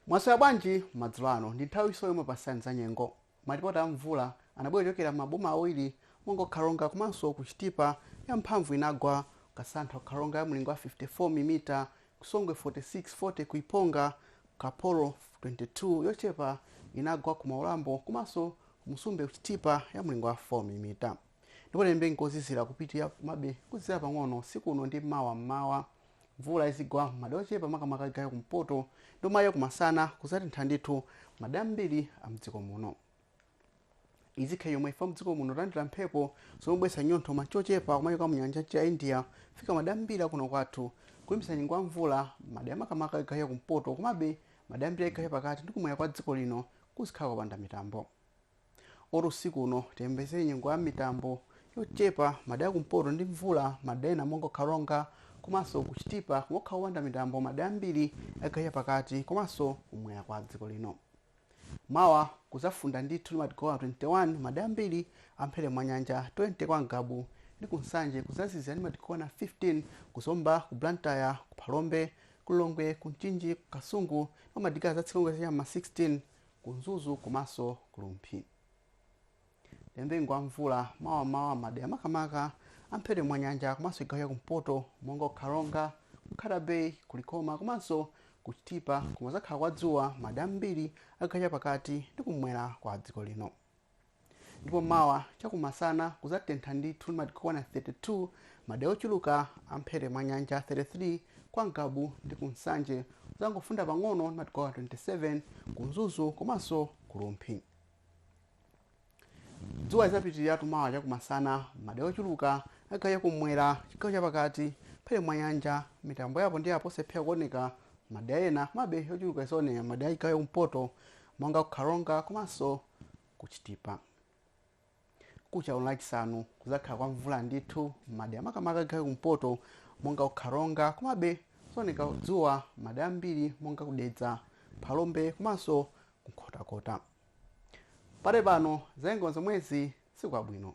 mwaswera bwanji madzulo ano ndi nthawi inanso yomwe tikupatsani za nyengo malipoti a mvula anabwera kuchokera m'maboma awiri monga ku karonga komanso ku chitipa ya mphamvu inagwa kasantha ku karonga ya mlingo wa 54 milimita ku Songwe 46 40 ku Iponga, ku Kaporo 22 yochepa inagwa ku Mwaulambo komanso ku Musumbe ku Chitipa ya mlingo wa 4 mm. Ndipo tiyembekezere nyengo yozizira kupitirira komabe kuzizira pang'ono usiku uno ndi mawa m'mawa. Mvula izigwa m'madera ochepa makamaka chigawo cha kumpoto ndipo mawa kumasana kudzatentha ndithu m'madera ambiri a m'dziko muno. izi zikhala chomwechi chifukwa mdziko muno tilandira mphepo zomabweretsa chinyontho chochepa kumachoka mu nyanja ya india kufika madera ambiri kuno kwathu kulimbikitsa nyengo ya mvula madera makamaka chigawo cha kumpoto komabe madera ambiri a chigawo cha pakati ndi kumwera kwa dziko lino kuzikhala kopanda mitambo kotero usiku uno tiyembekezere nyengo ya mitambo yochepa madera kumpoto ndi mvula madera ena monga karonga komanso ku chitipa koma kukhala kopanda mitambo madera ambiri a chigawo cha pakati komanso kumwera kwa dziko lino Mawa kuzafunda ndithu ndi madigiri okwana 21 madera ambiri amphepete mwa nyanja 20 kwa ngabu ndi ku nsanje kuzazizira ndi madigiri okwana 15 ku zomba ku blantyre ku phalombe ku lilongwe ku mchinji ku kasungu ndipo madigiri azatsika kuchokera cha m'ma 16 ku mzuzu komanso ku rumphi Tiyembekezere nyengo ya mvula mawa m'mawa madera makamaka amphepete mwa nyanja komanso chigawo cha kumpoto monga ku Karonga, ku Nkhata Bay, ku Likoma komanso ku Chitipa koma kudzakhala kwa dzuwa madera ambiri a chigawo chapakati ndi kum'mwera kwa dziko lino. Ndipo mawa chakumasana kudzatentha ndithu ndi madigiri okwana 32 madera ochuluka amphepete mwa nyanja, 33 kwa Ngabu ndi ku Nsanje kudzangofunda pang'ono ndi madigiri okwana 27 ku Mzuzu komanso ku Rumphi. Dzuwa lidzapitiriratu mawa chakumasana m'madera ochuluka a chigawo chakummwera, chigawo chapakati, mphepete mwa nyanja, mitambo ya apo ndi apo sidzalephera kuoneka m'madera ena komabe yochuluka idzaoneka m'madera a chigawo chakumpoto monga ku Karonga komanso ku Chitipa. Mkuja uno Lachisanu kudzakhala kwa mvula ndithu m'madera makamaka a chigawo chakumpoto monga ku Karonga komabe kudzaoneka dzuwa m'madera ambiri monga ku Dedza, Phalombe komanso ku Nkhotakota. Pakali pano za nyengo nzomwezi usiku wabwino.